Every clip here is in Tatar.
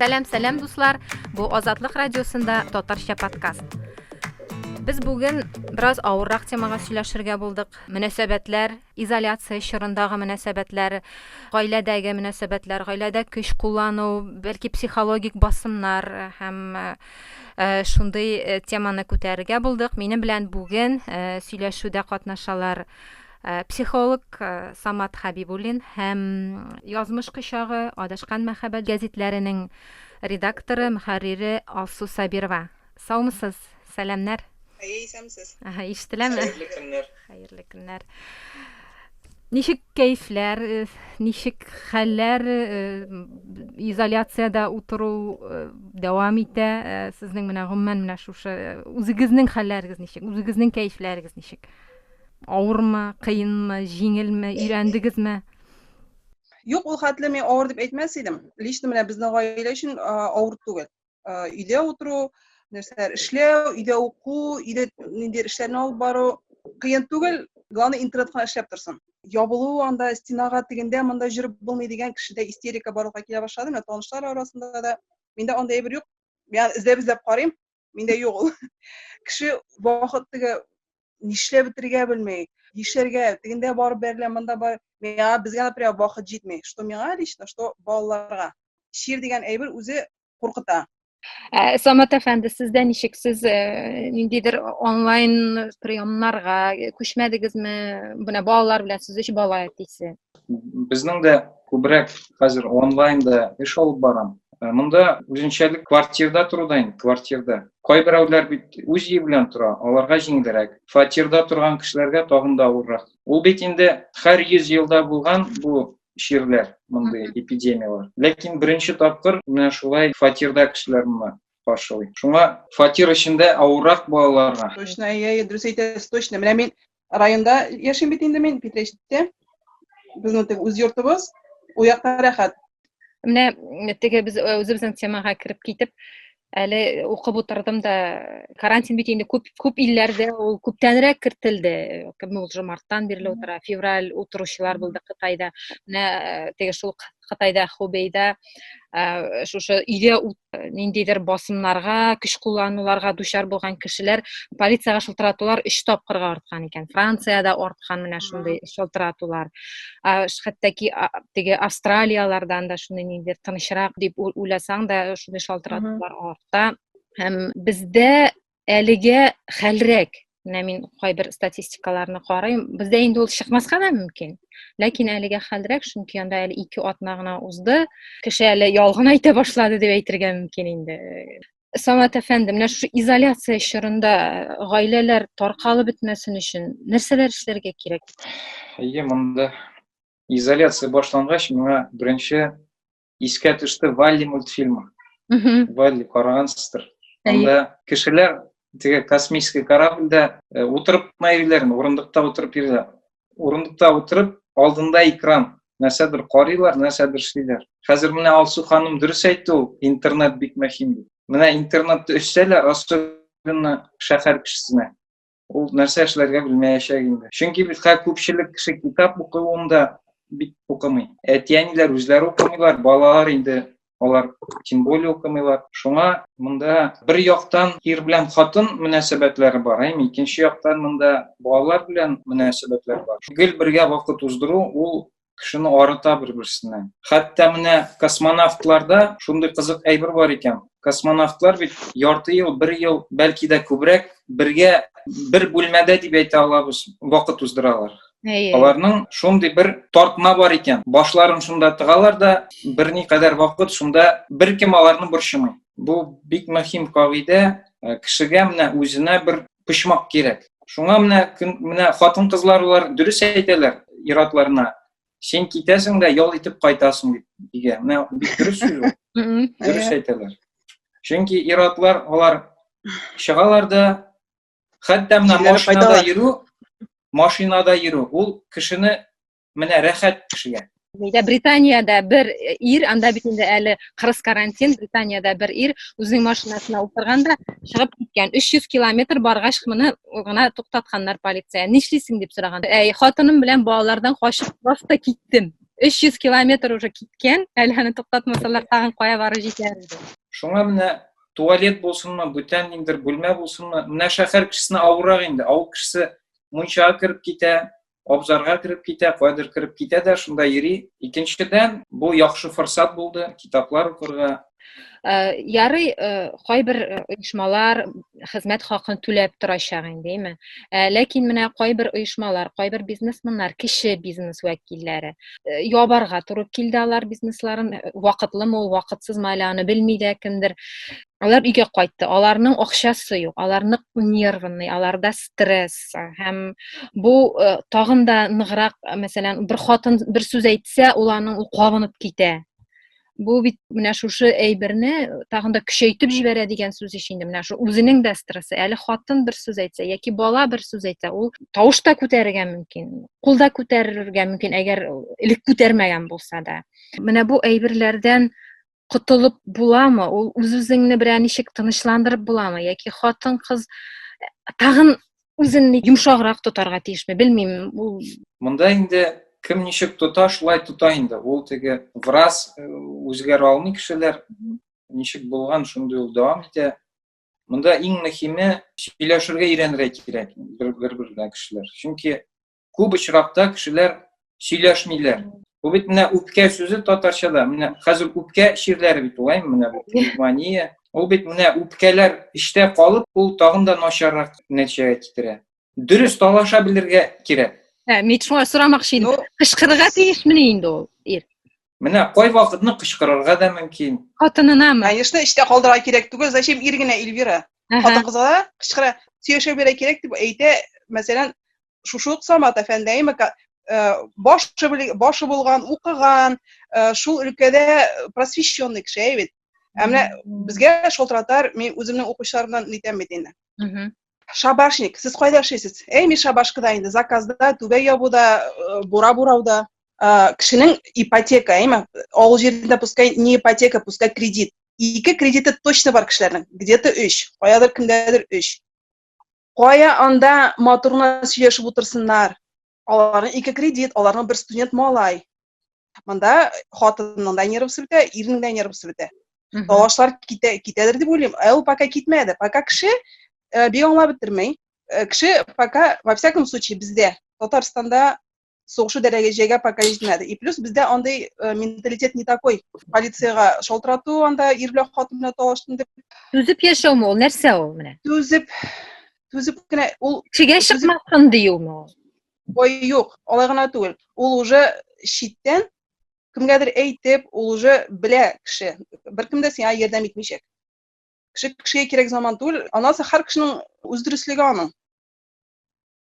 Сәлам, сәлам дуслар. Бу Азатлык радиосында татарча подкаст. Без бүген бераз авыррак темага сөйләшергә булдык. Мөнәсәбәтләр, изоляция чорындагы мөнәсәбәтләр, гаиләдәге мөнәсәбәтләр, гаиләдә көч куллану, бәлки психологик басымнар һәм шундый теманы күтәрергә булдык. Минем белән бүген сөйләшүдә катнашалар психолог Самат Хабибуллин һәм Язмыш кочагы, Адашкан мәхәббәт гәзитләренең редакторы, мөхәррире Алсу Сабирова. Саумысыз, сәламнәр. Әйе, исәмсез. Аһа, ишетеләме? Хәерле көннәр. Хәерле көннәр. Ничек кәйфләр, э, ничек хәлләр, э, изоляциядә утыру э, дәвам итә. Сезнең менә гомумән менә шушы үзегезнең хәлләрегез ничек? Үзегезнең кәйфләрегез ничек? Авырмы, кыенмы, җиңелме, өйрәндегезме? Юк, ул хәтле мин авыр дип әйтмәс идем. Лично менә безнең гаилә өчен авыр түгел. өйдә утыру, нәрсәләр эшләү, өйдә уку, өйдә ниндидер эшләрне алып бару кыен түгел, главное интернетка эшләп торсын. Ябылу анда стенага тегендә монда җөреп булмый дигән кешедә истерика барлыкка килә башлады. Менә танышлар арасында да миндә андый әйбер юк. Мин эзләп эзләп карыйм, миндә юк ул. Кеше вакыт теге нишләп бетерергә белми, нишләргә, тегендә барып бәрелә, монда бар. Миңа безгә, например, вакыт җитми. Что миңа лично, что балаларга. Чир дигән әйбер үзе куркыта. Ә, Самат әфәнде, сездә ничек? Сез э, ниндидер онлайн приемнарга күчмәдегезме? Менә балалар белән сүз өч бала әтисе. Безнең дә күбрәк хәзер онлайнда эш алып барам. Э, монда үзенчәлек квартирда тору да инде, квартирда. Кайберәүләр бит үз өе белән тора, аларга җиңелрәк. Фатирда торган кешеләргә тагын да авыррак. Ул бит инде һәр 100 елда булган бу чирләр, мондый эпидемияләр. Ләкин беренче тапкыр менә шулай фатирда кешеләр моны каршылый. Шуңа фатир эчендә авыррак балаларга. Точно, әйе, дөрес әйтәсез, точно. Менә мин районда яшим бит инде мин питрәчтә безнең теге үз йортыбыз ул якта рәхәт менә теге без үзебезнең темага кереп китеп әле укып утырдым да карантин бит инде күп күп илләрдә ул күптәнрәк кертелде кемне ул марттан бирле утыра февраль утыручылар булды кытайда менә теге шул кытайда хубейда шушы өйдә Э, ниндидер басымнарга көч куллануларга дучар булган кешеләр полицияга шылтыратулар өч тапкырга арткан икән франциядә арткан менә шундый шылтыратулар хәтта теге австралиялардан да шундый ниндидер тынычрак дип уйласаң да шундый шалтыратулар арта һәм бездә әлегә хәлрәк менә мин кайбер статистикаларны карыйм бездә инде ул чыкмаска да мөмкин ләкин әлегә хәлрәк чөнки анда әле ике атна гына узды кеше әле ялган әйтә башлады дип әйтергә мөмкин инде самат әфәнде менә шушы изоляция чорында гаиләләр таркалып бетмәсен өчен нәрсәләр эшләргә кирәк әйе монда изоляция башлангач миңа беренче искә төште валли мультфильмы валли карагансыздыр анда кешеләр теге космический корабльдә э, утырып кына йөриләрме урындыкта утырып йөриләр урындыкта утырып алдында экран нәрсәдер карыйлар нәрсәдер эшлиләр хәзер менә алсу ханым дөрес әйтте ул интернет бик мөһим дип менә интернетты өшсәләр особенно шәһәр кешесенә Ул нәрсә эшләргә белмәячәк инде. Чөнки битка күпчелек кеше китап укуын да бит укымый. Әти-әниләр үзләре укымыйлар, балалар инде алар тем более укымыйлар. Шуңа монда бер яктан ир белән хатын мөнәсәбәтләре бар, әйме, икенче яктан монда балалар белән мөнәсәбәтләр бар. Гел бергә вакыт уздыру ул кешене арыта бер берсенә хәтта менә космонавтларда шундый кызык әйбер бар икән космонавтлар бит ярты ел бер ел бәлки дә күбрәк бергә бер бүлмәдә дип әйтә алабыз вакыт уздыралар аларның шундый бер тартма бар икән башларын шунда тыгалар да берникадәр вакыт шунда беркем аларны борчымый бу бик мөһим кагыйдә Э, кешегә менә үзенә бер почмак кирәк. Шуңа менә менә хатын-кызлар улар дөрес әйтәләр иратларына. Син китәсең дә ял итеп кайтасың дип дигән. Менә бик дөрес сүз ул. Дөрес әйтәләр. Чөнки иратлар алар чыгалар да хәтта менә машинада йөрү, машинада йөрү ул кешене Менә рәхәт кешегә. Нидә Британиядә бер ир, анда бит инде әле кырыс карантин, Британиядә бер ир үзенең машинасына утырганда чыгып киткән. 300 километр баргач моны гына туктатканнар полиция. Нишлисең дип сораган. Әй, хатыным белән балалардан качып просто киттем. 300 километр уже киткән, әле аны туктатмасалар тагын кая барып җитәр иде. Шуңа менә туалет булсынмы, бүтән ниндер бүлмә булсынмы, менә шәһәр кешесенә авыррак инде. Авыл кешесе мунчага кереп китә, абзарга кереп китә кайдыр кереп китә дә шунда йөри икенчедән бу яхшы форсат булды китаплар укырга э, ярый э, кайбер э, оешмалар хезмәт хакын түләп торачак инде әйме ләкин менә кайбер оешмалар кайбер бизнесменнар кеше бизнес вәкилләре ябарга туры килде алар бизнесларын вакытлымы ул вакытсызмы әле аны белми дә кемдер Алар өйгә кайтты. Аларның акчасы юк, алар нык нервный, аларда стресс. Һәм бу э, тагын да ныграк, мәсәлән, бер хатын бер сүз әйтсә, ул аның ул кабынып китә. Бу бит менә шушы әйберне тагын да көчәйтеп җибәрә дигән сүз ич инде. Менә шу үзенең дә стрессы. Әле хатын бер сүз әйтсә яки бала бер сүз әйтсә, ул тавыш та күтәрергә мөмкин, кул да күтәрергә мөмкин, әгәр элек күтәрмәгән булса да. Менә бу әйберләрдән котылып буламы ул үз үзеңне берәр ничек тынычландырып буламы яки хатын кыз тагын үзен йомшаграк тотарга тиешме белмим ул монда инде кем ничек тота шулай тота инде ул теге враз э, үзгәрә алмый кешеләр ничек булган шундый ул дәвам итә монда иң мөһиме сөйләшергә өйрәнергә кирәк бер бер бергә кешеләр чөнки күп очракта кешеләр сөйләшмиләр. Бу бит менә үпкә сүзе татарчада. Менә хәзер үпкә чирләре бит улай, менә бу пневмония. Ул бит менә үпкәләр эчтә калып, ул тагын да начаррак нәтиҗәгә китерә. Дөрес талаша белергә кирәк. Ә, мин шуңа сорамакчы идем. Ну, Кычкырырга тиешмени инде ул ир? Менә кайвакытны кычкырырга да мөмкин. Хатынынамы? Конечно, эштә калдырырга кирәк түгел. Зачем ир генә Эльвира? Хатын кызга да кычкыра, сөйләшә бирә кирәк дип әйтә. Мәсәлән, шушы ук Самат әфәндәйме э, башы башы булган, укыган, э, шул өлкәдә просвещенный кеше әй бит. Ә менә безгә шалтыратар, мин үземнең укучыларымнан әйтәм бит инде. Шабашник, сез кайда эшлисез? Әй, мин шабашкада инде, заказда, түбә ябуда, э, бура бурауда. Э, кешенең ипотека, әйме? Авыл җирендә пускай не ипотека, пускай кредит. Ике кредиты точно бар кешеләрнең. Где-то 3, каядыр кемдәдер 3. Кая анда матурына сөйләшеп утырсыннар? Аларның ике кредит, аларның бер студент малай. Монда хатынның да нервысы бетә, ирнең дә нервысы бетә. Талашлар китә, китәдер дип уйлыйм. Ә ул пока китмәде. Пока кеше э, бик аңлап бетермәй. Э, кеше пока, во всяком случае, бездә, Татарстанда сугышу дәрәҗәгә пока җитмәде. И плюс бездә андый э, менталитет не такой. Полициягә шалтырату, анда ир белән хатын белән талаштым дип. Түзеп яшәүме ул? Нәрсә ул менә? Түзеп, түзеп кенә ул чигә чыкмасын диюме ул ой юк алай гына түгел ул уже читтән кемгәдер әйтеп ул уже белә кеше беркем дә сиңа ярдәм итмичәк кеше кешегә кирәк заман түгел анасы һәр кешенең үз дөреслеге аның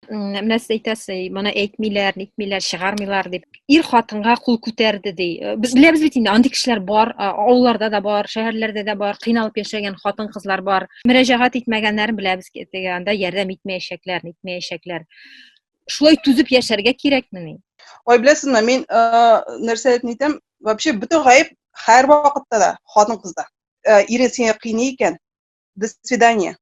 менә сез әйтәсез моны әйтмиләр нитмиләр чыгармыйлар дип ир хатынга кул күтәрде ди э, без беләбез бит инде андый кешеләр бар авылларда да бар шәһәрләрдә дә бар кыйналып яшәгән хатын кызлар бар мөрәҗәгать итмәгәннәрен беләбез теге анда ярдәм итмәячәкләр итмәячәкләр шулай түзеп яшәргә кирәкмени ой беләсезме мин э, нәрсә әйтәм вообще бөтен гаеп һәр вакытта да хатын кызда э, ире сине кыйный икән до свидания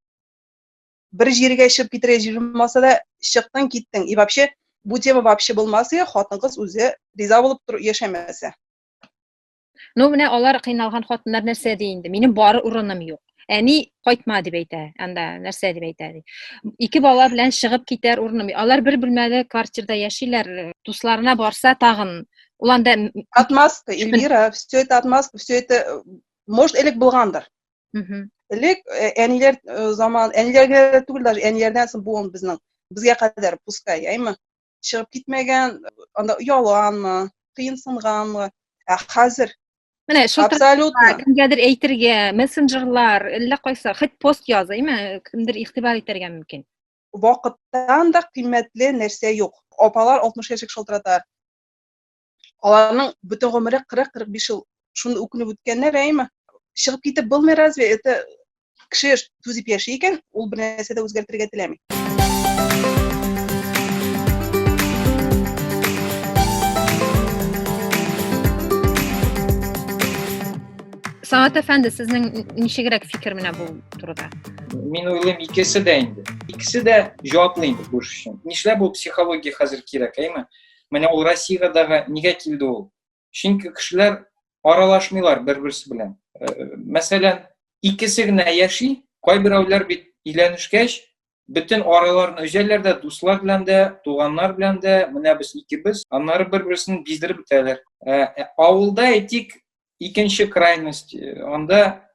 бер җиргә чыгып китерә җыжмаса да чыктың киттең и вообще бу тема вообще булмас ия хатын кыз үзе риза булып тор яшәмәсә ну менә алар кыйналган хатыннар нәрсә ди инде минем бар урыным юк әни кайтма дип әйтә анда нәрсә дип әйтә ди ике бала белән чыгып китәр урыным алар бер бүлмәле квартирада яшиләр дусларына барса тагын ул анда отмазка эльвира все это отмазка все это может элек булгандыр элек э, әниләр э, заман әниләргә дә түгел даже әниләрдән соң буын безнең безгә кадәр пускай әйме чыгып китмәгән анда оялганмы кыенсынганмы ә хәзер менә абсолютно кемгәдер әйтергә мессенджерлар әллә кайсы хоть пост яз әйме кемдер игътибар итәргә мөмкин вакыттан да кыйммәтле нәрсә юк апалар алтмыш яшьлек шалтырата Аларның бөтен гомере 40-45 ел шуны үкенеп үткәннәр, әйме? Чыгып китеп булмый разве? Это кеше түзеп яши икән, ул бер нәрсә дә үзгәртергә теләми. Самат әфәнде, сезнең ничегрәк фикер менә бу турыда? Мин уйлыйм, икесе дә инде. Икесе дә җаваплы инде бу эш өчен. Нишләп ул психология хәзер кирәк, әйме? Менә ул Россиягә дагы нигә килде ул? Чөнки кешеләр аралашмыйлар бер-берсе белән. Э, мәсәлән, икесе генә яши, кайберәүләр бит өйләнешкәч, бөтен араларын өзәләр дә, дуслар белән дә, туганнар белән дә, менә без икебез, аннары бер-берсен биздереп бетәләр. Ә, э, авылда әйтик, икенче крайность, э, анда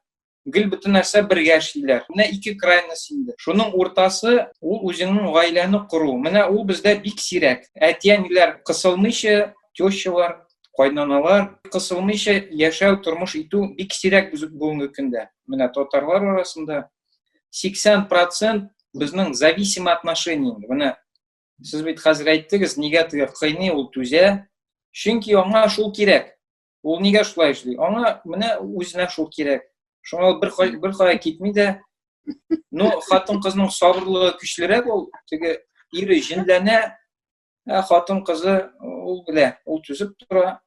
гел бөтен нәрсә бергә эшлиләр. Менә ике крайность инде. Шуның уртасы ул үзеңнең гаиләне кору. Менә ул бездә бик сирәк. Әти-әниләр кысылмыйча, тещалар, кайнаналар кысылмыйча яшәү, тормыш итү бик сирәк бүгенге көндә. Менә татарлар арасында 80% безнең зависимый отношение инде. Менә сез бит хәзер әйттегез, нигә теге кыйный ул түзә? Чөнки аңа шул кирәк. Ул нигә шулай эшли? Аңа менә үзенә шул кирәк. Шуңа бер бер кая китми дә. Ну, хатын-кызның сабырлыгы көчлерәк ул. Теге ире җенләнә, ә хатын-кызы ул белә, ул түзеп тора.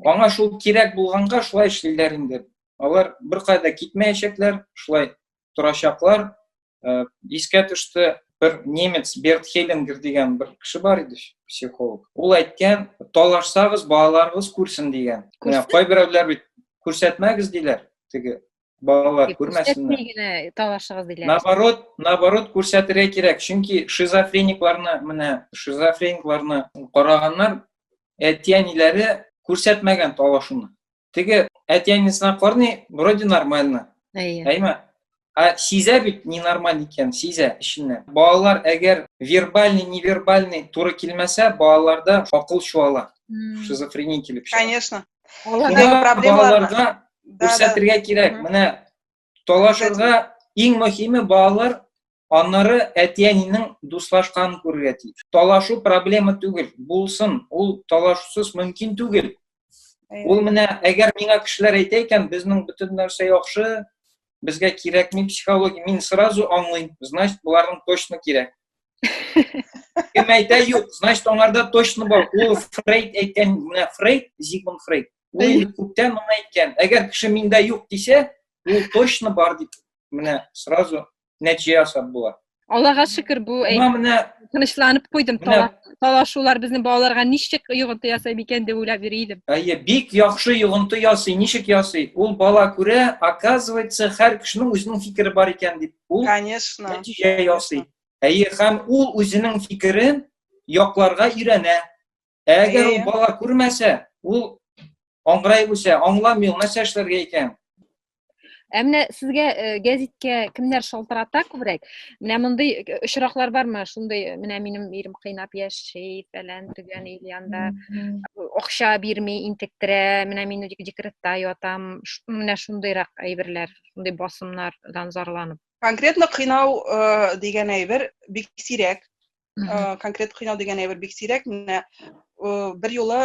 Аңа шул кирәк булганга шулай эшлиләр инде. Алар бер кая да китмәячәкләр, шулай торачаклар. Э, искә төште, бер немец Берт Хеллингер дигән бер кеше бар иде, психолог. Ул әйткән, талашсагыз, балаларыгыз күрсен дигән. Менә кайберәүләр бит күрсәтмәгез диләр, теге балалар күрмәсеннәр. генә талашыгыз диләр. Наоборот, наоборот күрсәтергә кирәк, чөнки шизофреникларны, менә шизофреникларны караганнар, әти-әниләре күрсәтмәгән талашуны. Теге әтиәнесенә карный, вроде нормально. Әйе. Әйме? А сизә бит ненормаль икән, сизә эченнән. Балалар әгәр вербальный, невербальный туры килмәсә, балаларда акыл чуала. Шизофрения килеп чыга. Конечно. Шуңа балаларга күрсәтергә кирәк. Менә талашырга иң мөһиме балалар аннары әти-әнинең дуслашканын күрергә тиеш. Талашу проблема түгел, булсын, ул талашусыз мөмкин түгел. Ул менә әгәр миңа кешеләр әйтә икән, безнең бөтен нәрсә яхшы, безгә кирәкми психология, мин сразу аңлыйм, значит, буларның точно кирәк. Кем әйтә юк, значит, аңарда точно бар. Ул Фрейд әйткән, менә Фрейд, Зигмунд Фрейд, Ул инде күптән гына әйткән. Әгәр кеше миндә юк дисә, ул точно бар дип менә сразу нәтиҗә ясап була. Аллага шөкер, бу менә тынычланып куйдым. Талашулар безнең балаларга ничек йогынты ясый микән дип уйлап йөри идем. Әйе, бик яхшы йогынты ясый. Ничек ясый? Ул бала күрә, оказывается, һәр кешенең үзенең фикере бар икән дип. Ул Конечно. Нәтиҗә ясый. Әйе, һәм ул үзенең фикерен якларга өйрәнә. Әгәр ул бала күрмәсә, ул аңгырай үсә, аңламый, ул нәрсә эшләргә икән? Ә менә сезгә э, гәзиткә кемнәр шалтырата күбрәк? Менә мондый э, очраклар бармы? Шундый э, менә минем ирем кыйнап яши, фәлән төгән ил янда акча бирми, интектерә, менә мин декретта ятам. Менә шундыйрак әйберләр, шундый басымнардан зарланып. Конкретно кыйнау дигән әйбер бик сирәк. конкрет кыйнау дигән әйбер бик сирәк менә бер юлы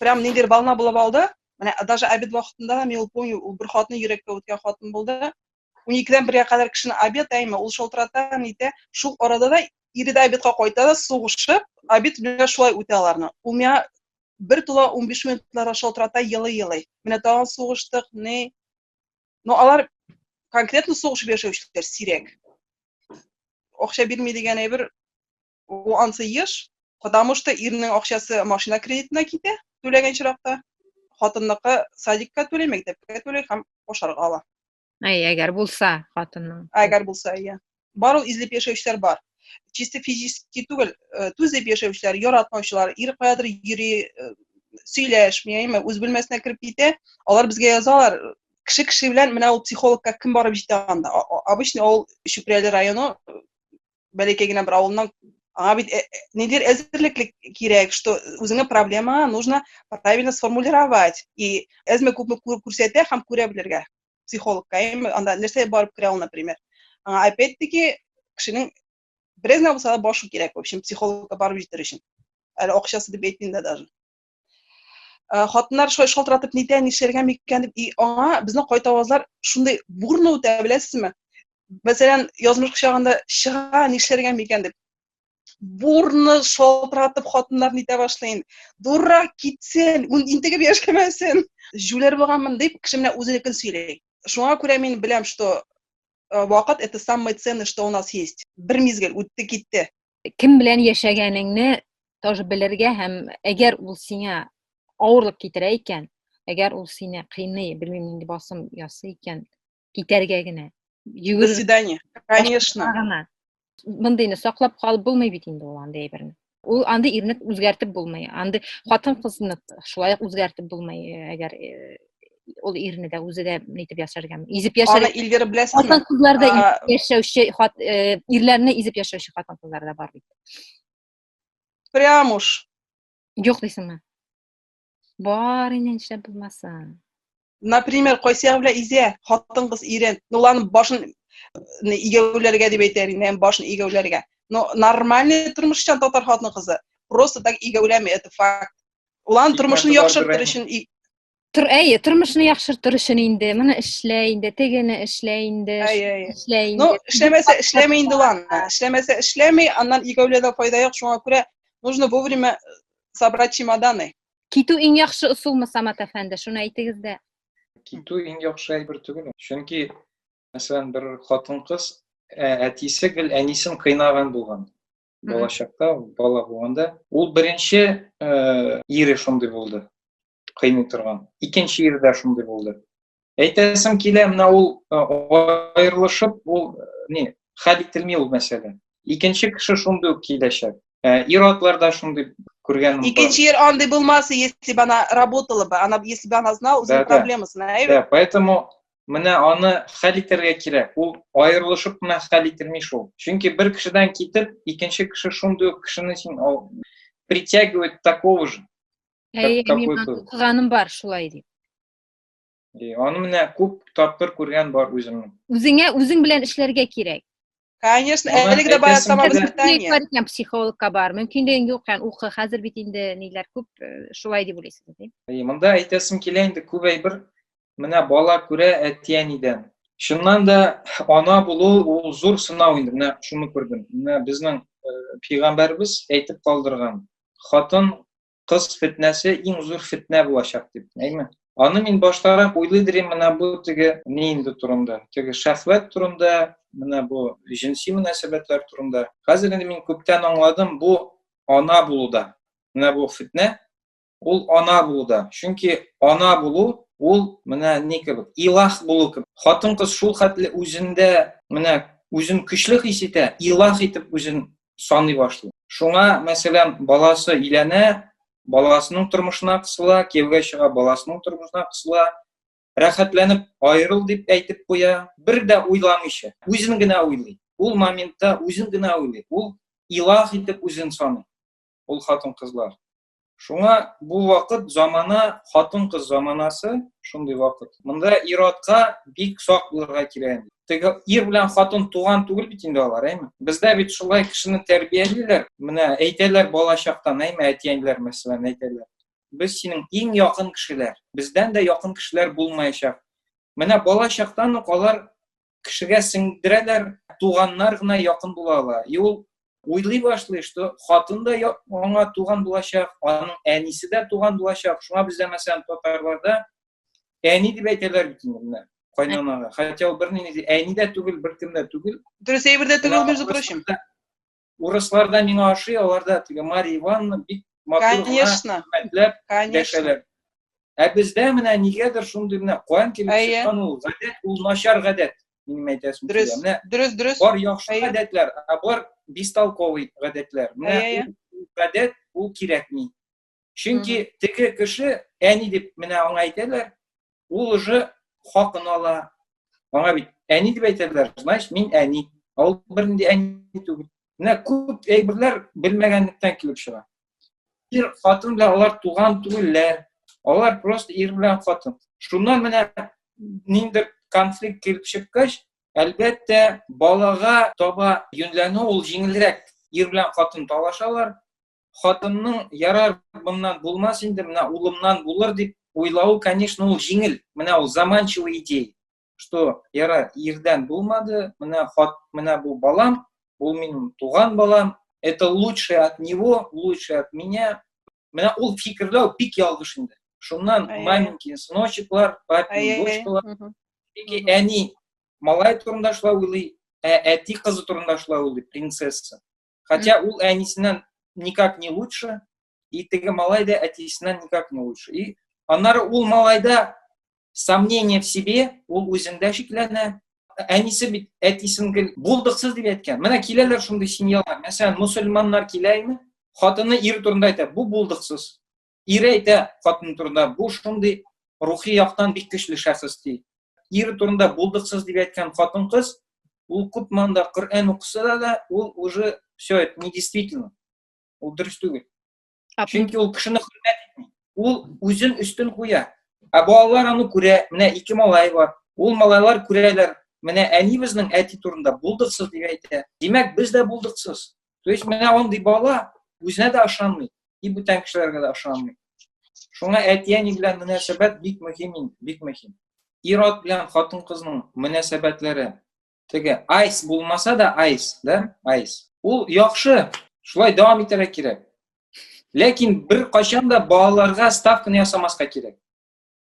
прям ниндидер волна булып алды менә даже обед вакытында да мин ул помню ул бер хатны йөрәккә үткән хатын булды уникедән бергә кадәр кешене обед әйме ул шалтырата нитә шул арада да ире дә обедка кайта да сугышып обед белән шулай үтә аларны ул миңа бер тула унбиш минутларга шалтырата елый елый менә тагын сугыштык ни но алар конкретно сугышып яшәүчеләр сирәк акча бирми дигән әйбер ул ансы еш потому что ирнең акчасы машина кредитына китә түләгән чиракта хатынныкы садикка түли мәктәпкә түли һәм ашарга ала әй әгәр булса хатынның әгәр булса иә Бару излеп яшәүчеләр бар. Чисто физически түгел, э, түзеп яшәүчеләр, яратмаучылар, ир каядыр йөри, э, сөйләшми, әйме, үз бүлмәсенә кереп китә, алар безгә язалар, кеше кеше белән менә ул психологка кем барып җитә анда. Обычно ул Чүпрәле районы бәләкәй генә бер авылның аңа бит э, нидер әзерлеклек кирәк, что үзеңә проблема нужно правильно сформулировать и әзме күпме күрсәтә һәм күрә белергә. психологка эми анда нәрсә барып керә ул например аңа опять таки кешенең бераз генә булса да башы кирәк в общем психологка барып җитәр өчен әле акчасы дип әйтмим дә даже э, хатыннар шулай шалтыратып нитә нишләргә микән дип и аңа безнең кайтавазлар шундый бурно үтә беләсезме мәсәлән язмыш кочагында чыга нишләргә микән дип бурны шалтыратып хатыннар нитә башлый инде дурра китсен интегеп яшәмәсен җүләр булганмын дип кеше менә үзенекен сөйли шуңа күрә мин беләм что э, вакыт это самый ценный что у нас есть бер мизгел үтте китте кем белән яшәгәнеңне тоже белергә һәм әгәр ул сиңа авырлык китерә икән әгәр ул сине кыйный белмим нинди басым ясый икән китәргә генә йөгер до свидания конечно гына мондыйны саклап калып булмый бит инде ул андый әйберне ул андый ирне үзгәртеп булмый андый хатын кызны шулай ук үзгәртеп булмый әгәр ул ирне дә үзе дә нитеп яшәргә изеп яшәргә аны илгер беләсезме хатын кызларда яшәүче ирләрне изеп яшәүче хатын кызлар да бар бит прям уж юк дисеңме Бар инде нишләп булмаса. Например, кайсы ягы белән изә, хатын-кыз ирен, ну ладно, башын игәүләргә дип әйтәр инде, һәм башын игәүләргә. Но нормальный тормышчан татар хатын-кызы просто так игәүләми, это факт. Улан тормышын яхшыртыр өчен Тор, әйе, тормышны яхшыртыр өчен инде, моны эшлә инде, тегене эшлә инде, эшлә инде. Ну, эшләмәсә, эшләмә инде ладно. Эшләмәсә, эшләми, аннан игәүләдә файда юк, шуңа күрә нужно вовремя собрать чемоданы. Китү иң яхшы ысулмы, Самат әфәнде? Шуны әйтегез дә. Китү иң яхшы әйбер түгел. Чөнки, мәсәлән, бер хатын-кыз ә, әтисе гел әнисен кыйнаган булган. Балачакта, бала булганда, ул беренче э, ире шундый булды. кыйный торган. Икенче ир дә шундый булды. Әйтәсем килә, менә ул аерылышып, ул не, хәл ителми ул мәсьәлә. Икенче кеше шундый ук киләчәк. Ир-атлар да шундый күргән. Икенче ир андый булмаса, если бы она работала бы, она если бы она знала үзенең проблемасын, әйбәт. Да, поэтому менә аны хәл итәргә кирәк. Ул аерылышып кына хәл ителми шул. Чөнки бер кешедән китеп, икенче кеше шундый ук кешене син притягивает такого же. Әйе, Кап- мин капуста. аны укыганым бар, шулай дип. Ди, Аны менә күп тапкыр күргән бар үземнең. Үзеңә үзең белән эшләргә кирәк. Конечно, Аны әлеге дә бая әйтәсем самое килә. Мөмкинлек воспитание. бар икән психологка бар. Мөмкинлегең юк икән укы. Хәзер бит инде ниләр күп, э, шулай дип уйлыйсыз ди. Әйе, монда әйтәсем килә инде күп әйбер менә бала күрә әти-әнидән. Чыннан да ана булу ул зур сынау инде. Менә шуны күрдем. Менә безнең э, пәйгамбәрбез әйтеп калдырган. Хатын кыз фетнәсе иң зур фетнә булачак дип, әйме? Аны мин баштарак уйлыйдырым менә бу теге ни инде турында, теге шәхвәт турында, менә бу җенси мөнәсәбәтләр турында. Хәзер инде мин күптән аңладым, бу ана булуда. Менә бу фетнә, ул ана булуда. Чөнки ана булу ул менә ни кебек, илах булу кебек. Хатын-кыз шул хәтле үзендә менә үзен көчле хис итә, илах итеп үзен саный башлый. Шуңа, мәсәлән, баласы иләнә, баласының тормышына кысыла, кияүгә чыга, баласының тормышына кысыла, рәхәтләнеп аерыл дип әйтеп куя, бер дә уйламыйча, үзен генә уйлый. Ул моментта үзен генә уйлый. Ул илах итеп үзен саный. Ул хатын-кызлар. Шуңа бу вакыт замана хатын-кыз заманасы, шундый вакыт. Монда иротка бик сак булырга кирәк. Теге ир белән хатын туган түгел бит инде алар, әйме? Бездә бит шулай кешене тәрбиялиләр. Менә әйтәләр балачактан, әйме, әтиәниләр мәсәлән әйтәләр. Без синең иң якын кешеләр. Бездән дә якын кешеләр булмаячак. Менә балачактан ук алар кешегә сеңдерәләр туганнар гына якын була ала и ул уйлый башлый что хатын да аңа туган булачак аның әнисе дә туган булачак шуңа бездә мәсәлән татарларда әни дип әйтәләр бит инде менә кайнанага хотя ул бернинди әни дә түгел беркем дә түгел дөрес әйбер дә түгел между прочим урысларда миңа ошый аларда теге марья ивановна бик матур конечно хөрмәтләп дәшәләр ә бездә менә нигәдер шундый менә куан килеп чыккан ул гадәт ул начар гадәт минем әйтәсем дөрес дөрес дөрес бар яхшы гадәтләр ә бар бестолковый гадәтләр менә гадәт ул кирәкми чөнки теге кеше әни дип менә аңа әйтәләр ул уже хакын ала аңа бит әни дип әйтәләр значит мин әни ә ул бернинди әни түгел менә күп әйберләр белмәгәнлектән килеп чыга ир хатын белән алар туган түгелләр алар просто ир белән хатын шуннан менә ниндидер конфликт килеп чыккач әлбәттә балага таба юньләнү ул җиңелрәк ир белән хатын талашалар хатынның ярар моннан булмас инде, менә улымнан булыр дип уйлавы, конечно, ул җиңел. Менә ул заманчивый идея, что ярар ирдән булмады, менә хат, менә бу балам, ул минем туган балам, это лучше от него, лучше от меня. Менә ул фикерләү бик ялгыш инде. Шуннан маменькин сыночеклар, папин дочкалар, яки әни малай турында шулай уйлый, ә әти кызы турында шулай уйлый, принцесса. Хотя ул әнисеннән никак не лучше, и теге малай да әтисеннән никак не лучше. И аннары ул малайда сомнение в себе, ул үзендә шикләнә. Әнисе бит әтисен булдыксыз дип әйткән. Менә киләләр шундый семьялар. Мәсәлән, мусульманнар килә инде, хатыны ир турында әйтә, бу булдыксыз. Ире әйтә хатын турында, бу шундый рухи яктан бик көчле шәхес ди. Ире турында булдыксыз дип әйткән хатын-кыз, ул күп манда Коръән укыса да, да ул уже все это не действительно. Ул дөрес түгел. Чөнки ул кешене хөрмәт итми. Ул үзен өстен куя. Ә балалар аны күрә, менә ике малай бар. Ул малайлар күрәләр, менә әни безнең әти турында булдыксыз дип әйтә. Димәк, без дә булдыксыз. То есть менә андый бала үзенә дә ышанмый, и бүтән кешеләргә дә ышанмый. Шуңа әти-әни белән мөнәсәбәт бик мөһим инде, бик мөһим. Ират белән хатын-кызның мөнәсәбәтләре теге айс булмаса да айс, да? Айс. Ул яхшы, шулай дәвам итәргә кирәк. Ләкин бер кайчан да балаларга ставканы ясамаска кирәк.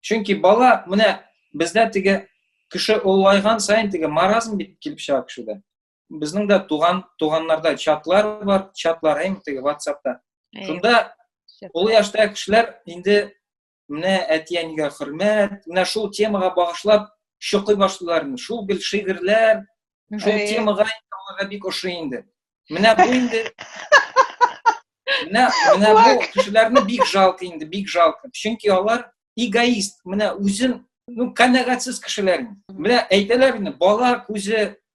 Чөнки бала менә бездә теге кеше олайган сайын теге маразм бит килеп чыга кешедә. Безнең дә туган, туганнарда чатлар бар, чатлар әйм теге WhatsApp-та. Шунда ул яшьтә кешеләр инде менә әти-әнигә хөрмәт, менә шул темага багышлап шуқый башлыйлар. Шул гел шигырьләр, шул темага аларга бик ошый инде. Менә бу инде Менә менә бу кешеләрне бик жалко инде, бик жалко. Чөнки алар эгоист, менә үзен ну, канәгатьсез кешеләр. Менә әйтәләр инде, бала күзе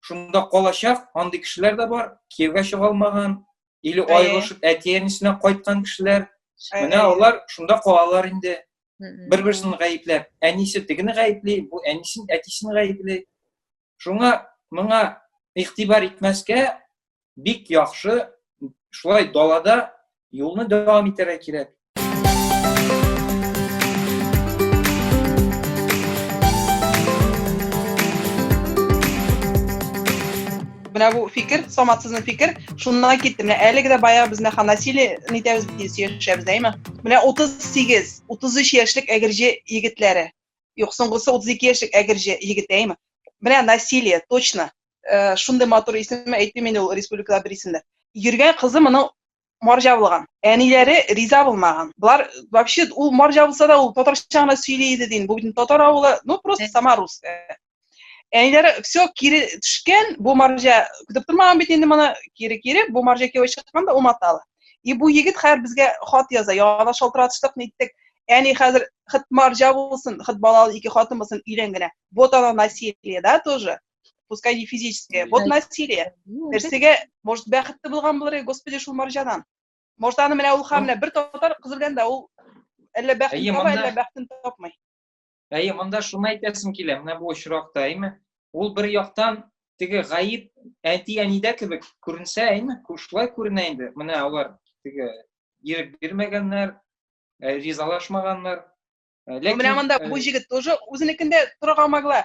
шунда калачак андый кешеләр дә бар кияүгә чыга алмаган или аерылышып әти әнисенә кайткан кешеләр менә алар шунда калалар инде бер берсен гаепләп әнисе тегене гаепли бу әнисен әтисен гаепли шуңа моңа игътибар итмәскә бик яхшы шулай далада юлны дәвам итәргә кирәк менә бу фикер самат сезнең фикер шуннан китте менә әлеге дә баягы без нәха насилие нитәбез сөйләшәбез әйме менә утыз сигез утыз өч яшьлек әгерҗе егетләре юк соңгысы утыз ике яшьлек әгерҗе егет әйме менә насилие точно э, шундый матур исем әйтмим инде ул республикада бер исемдә йөргән кызы моның марҗа булган әниләре риза булмаган болар вообще ул марҗа булса да ул татарча гына сөйли иде дин бу бит татар авылы ну просто сама русская әниләре все кире төшкән бу марҗа көтеп тормаган бит инде моны кире кире бу марҗа кияү чыкканда уматалы и бу егет хәзер безгә хат яза яңадан шалтыратыштык ниттек әни хәзер хит марҗа булсын хит балалы ике хатын булсын өйлән генә вот оно насилие да тоже пускай не физическое вот насилие нәрсеге может бәхетті болған болар еді господи шул маржанан может аны менә ул хамлә бер татар кыз белән дә ул әллә бәхетен таба әллә бәхетен тапмый әйе монда шуны әйтәсем килә менә бу очракта әйме ул бер яктан теге гаеп әти әнидә кебек күренсә әйме шулай күренә инде менә алар теге ирек бирмәгәннәр э, ризалашмаганнар э, ләкин менә монда э, бу җегет тоже үзенекендә тора алмагла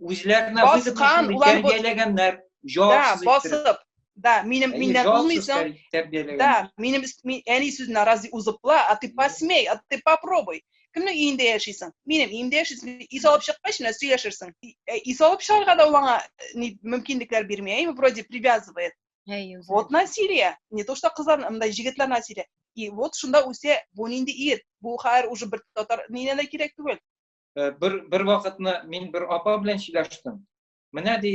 Үзләренә баскан, улар тәрбияләгәннәр, җавапсыз да, басып, да, минем миннән булмыйсың. Да, минем әни сүзенә разве узыпла, а ты посмей, а ты попробуй. Кемнең өендә яшисең? Минем өемдә яшисең. Ис алып чыккач менә сөйләшерсең. Ис алып чыгарга да ул аңа мөмкинлекләр бирми, әйме, вроде привязывает. Вот насилие. Не то что кызлар, мындай җегетләр насилие. И вот шунда үсә, бу нинди ир? Бу хәер уже бер татар нинә дә кирәк түгел. э, бер бер вакытны мин бер апа белән сөйләштем. Менә ди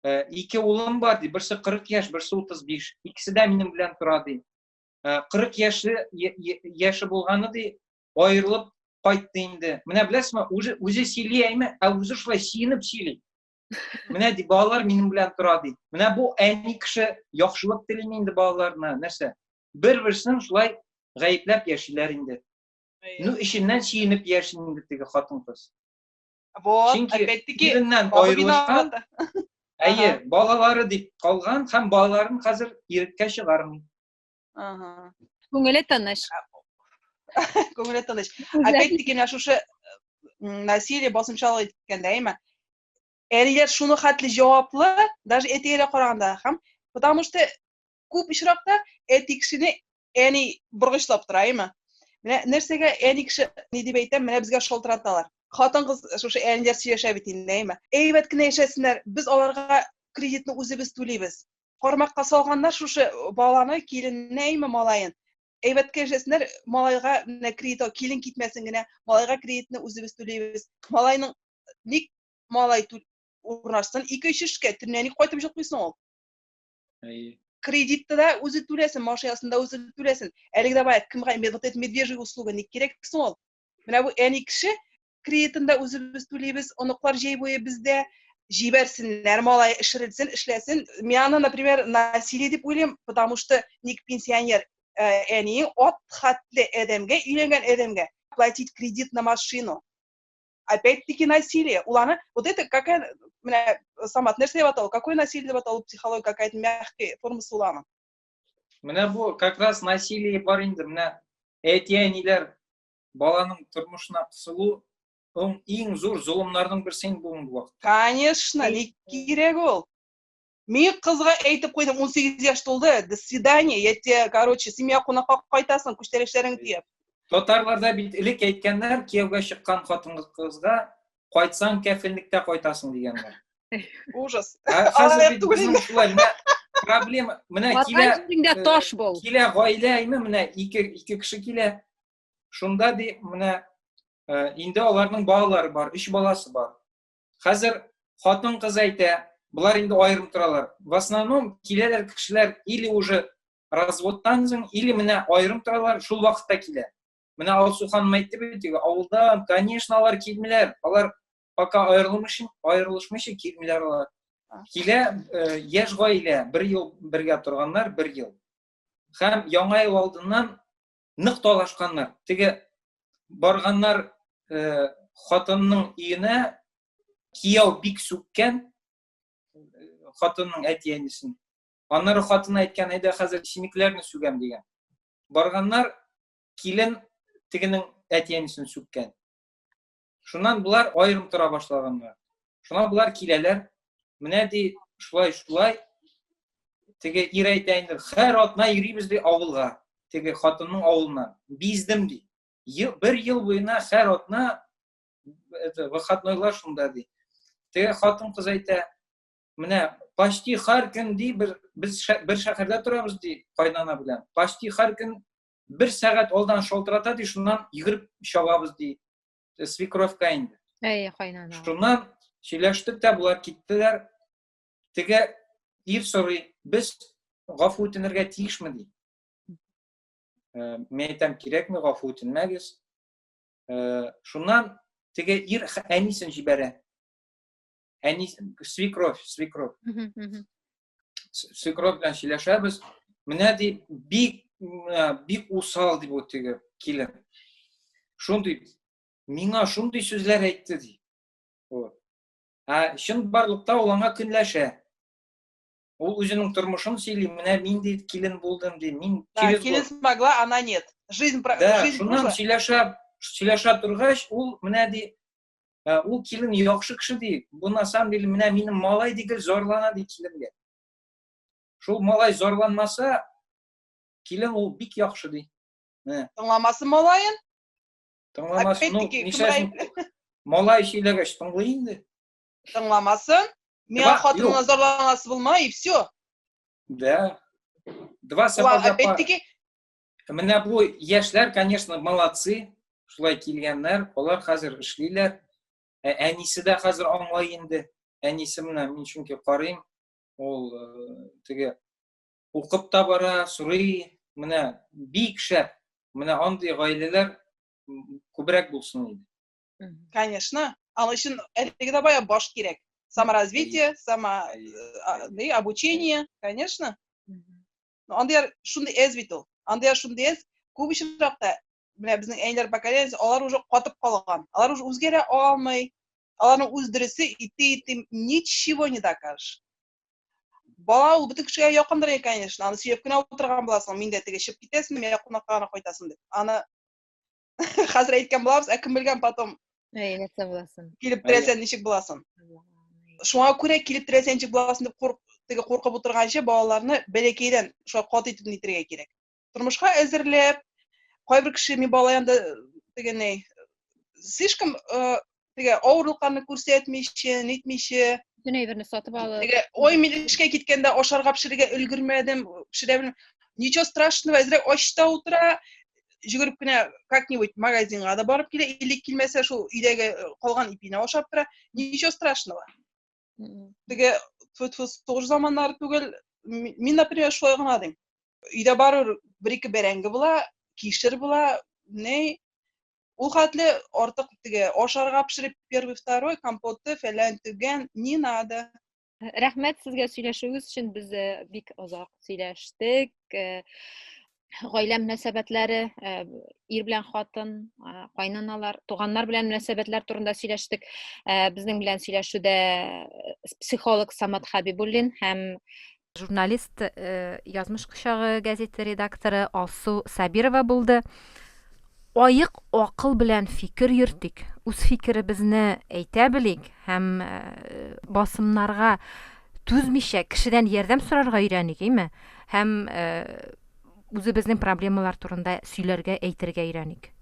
э, ике улым бар ди, берсе 40 яшь, берсе 35. Икесе дә минем белән тора ди. 40 э, яше яше булганы ди, аерылып кайтты инде. Менә беләсезме, үзе үзе сөйли әйме, ә үзе шулай сөенеп сөйли. Менә ди балалар минем белән тора ди. Менә бу әни кеше яхшылык телими инде балаларына, нәрсә? Бер-берсен шулай гаепләп яшиләр инде. Ну, эченнән чиенеп яшен инде теге хатын-кыз. Вот, Чөнки опять-таки, иреннән аерылышкан, әйе, балалары дип калган һәм балаларын хәзер иреккә чыгармый. Ага. Күңеле тыныч. Күңеле тыныч. Опять-таки, менә шушы насилие басымчалык иткәндә, әйме? Әниләр шуны хәтле җаваплы, даже әтигә караганда, һәм потому что күп очракта әти кешене әни боргычлап тора әйме менә нәрсәгә әни кеше ни дип әйтәм менә безгә шалтыраталар хатын кыз шушы әниләр сөйләшә бит инде әйме әйбәт кенә яшәсеннәр без аларга кредитны үзебез түлибез кармакка салганнар шушы баланы киленне әйме малаен әйбәткә яшәсеннәр малайга менә кредит килен китмәсен генә малайга кредитны үзебез түлибез малайның ник малай урнашсын ике өч эшкә төнлә ник кайтып җокмыйсың ул Әйе. Кредитты да үзе түләсен, машинасын да үзе түләсен. Әлеге давай, кемгә вот эти медвежьи услуги ник кирәк соң ул? Менә бу әни кеше кредитын да үзебез түлибез, оныклар җәй буе бездә җибәрсеннәр, малай эшерелсен, эшләсен. Мин аны, например, насилие дип уйлыйм, потому что ник пенсионер әни ат хәтле адәмгә өйләнгән адәмгә платить кредит на машину. опять-таки насилие. Ул аны, вот это какая, менә Самат, нәрсә дип аталу? Какое насилие дип аталу психология какая-то мягкая формасы уламы? Менә бу как раз насилие бар инде, менә әти-әниләр баланың тормышына кысылу иң зур золымнарның берсе инде бүгенге вакытта. Конечно, ник кирәк ул? Мин кызга әйтеп куйдым, 18 яшь тулды, до свидания, я тебе, короче, семья кунакка кайтасың, күчтәрешләреңне төяп. Татарларда бит элек әйткәннәр, кияүгә чыккан хатын кызга кайтсаң кәфенлектә кайтасың дигәннәр. Ужас. Хәзер бит безнең шулай, менә проблема, менә килә. Э, таш бул. Килә гаилә име, менә ике ике кеше килә. Шунда ди, менә э, инде аларның балалары бар, өч баласы бар. Хәзер хатын-кыз әйтә, болар инде аерым торалар. В основном киләләр кешеләр или уже разводтан соң, или менә аерым торалар, шул вакытта килә. Менә Алсу ханым әйтте бит, авылдан, конечно, алар килмиләр. Алар пока аерылмыйча, аерылышмыйча килмиләр алар. Килә э, яшь гаилә, бер ел бергә торганнар, бер ел. Һәм яңа ел алдыннан нык талашканнар теге барганнар ә, хатынның өенә кияү бик сүккән хатынның әти әнисен аннары хатыны әйткән әйдә хәзер чимекләрне сүгәм дигән барганнар килен тегенең әти әнисен сүккән Шуннан болар аерым тора башлаганнар. Шуннан болар киләләр. Менә ди, шулай шулай теге ир әйтә инде, һәр атна йөрибез ди авылга, теге хатынның авылына. Биздем ди. Бер ел буена һәр атна это выходнойлар шунда ди. Теге хатын кыз әйтә, менә почти һәр көн ди бер без бер шәһәрдә торабыз ди, кайнана белән. Почти һәр көн бер сәгать алдан шалтырата ди шуннан йөгереп чабабыз ди э, свекровька инде әй кайнана шуннан сөйләштек тә болар киттеләр теге ир сорый без гафу үтенергә тиешме ди э, мен әйтәм кирәкме гафу үтенмәгез э, шуннан теге ир әнисен җибәрә әни свекровь свекровь свекровь белән сөйләшәбез менә ди бик бик усал ди бу теге килен шундый миңа шундый сүзләр әйтте ди ә чын барлыкта ул аңа көнләшә ул үзенең тормышын сөйли менә мин ди килен булдым ди мин килен смогла она нет жизнь да шуннан сөйләшә сөйләшә торгач ул менә ди Ә, ул килен яхшы кеше ди, бу на самом деле менә минем малай дигел зарлана ди киленгә. Шул малай зарланмаса, килен ул бик яхшы ди. Менә. Тыңламасы малаен? Тыңламасы, ну, мисәсен, малай сөйләгәч тыңлый инде. Тыңламасын. Миңа хатынына зарланасы булма, и все. Да. Два сапога пара. Опять-таки, Менә бу яшьләр, конечно, молодцы, шулай килгәннәр, алар хәзер эшлиләр. Ә әнисе дә хәзер аңлай инде. Әнисе менә мин чөнки карыйм, ул теге укып та бара, сорый, менә бик шәп. Менә андый гаиләләр күбрәк булсын иде. Конечно. Аның өчен әлеге дә бая баш кирәк. Саморазвитие, само обучение, конечно. Андыйлар шундый әз бит ул. Андыйлар шундый әз, күп очракта менә безнең әниләр поколениесе, алар уже катып калган. Алар уже үзгәрә алмый. Аларның үз дөресе итте итте ничего не докажешь. Бала ул бөтен кешегә якындыр инде, конечно. Аны сөйләп кенә утырган буласың. Мин дә теге чып китәсен, мин дә кунакка гына кайтасың дип. Аны хәзер әйткән булабыз ә кем белгән потом нәрсә буласын килеп терәсәң ничек буласын шуңа күрә килеп терәсәң ничек буласын дип теге куркып утырганчы балаларны бәләкәйдән шулай кат итеп нитергә кирәк тормышка әзерләп кайбер кеше мин бала янында тегеней слишком теге авырлыкларны күрсәтмичә, нитмичә, бөтен әйберне сатып алып. Теге ой, мин эшкә киткәндә ашарга пешерергә өлгермәдем, пешерә белмим. Ничего страшного, әзрәк ачта утыра, жүгереп кенә как-нибудь магазинга да барып килә, или килмәсә шул өйдәге калган ипине ашап тора. Ничего страшного. Теге тфу-тфу сугыш заманнары түгел. Мин, например, шулай гына дим. Өйдә барыр бер-ике бәрәңге була, кишер була, не Ул хәтле артык теге ашарга пешереп первый, второй, компоты, фәлән, төгән, не надо. Рәхмәт сезгә сөйләшүегез өчен. Без э, бик озак сөйләштек. Э, гаилә мөнәсәбәтләре, э, ир белән хатын, кайнаналар, туганнар белән мөнәсәбәтләр турында сөйләштек. Безнең белән сөйләшүдә психолог Самат Хабибуллин һәм Журналист Язмыш кочагы газеты редакторы Алсу Сабирова булды. Аек акыл белән фикер йөртик, үз фикеребезне әйтә белик һәм басымнарга түзмичә кешедән ярдәм сорарга өйрәник, әйме? Һәм Үзебезнең проблемалар турында сөйләргә, әйтергә өйрәник.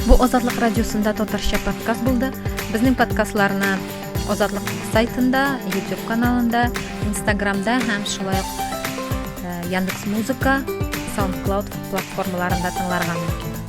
Бу Азатлык радиосында татарча подкаст булды. Безнең подкастларны Азатлык сайтында, YouTube каналында, Instagramда һәм шулай ук э, Яндекс.Музыка, SoundCloud платформаларында тыңларга мөмкин.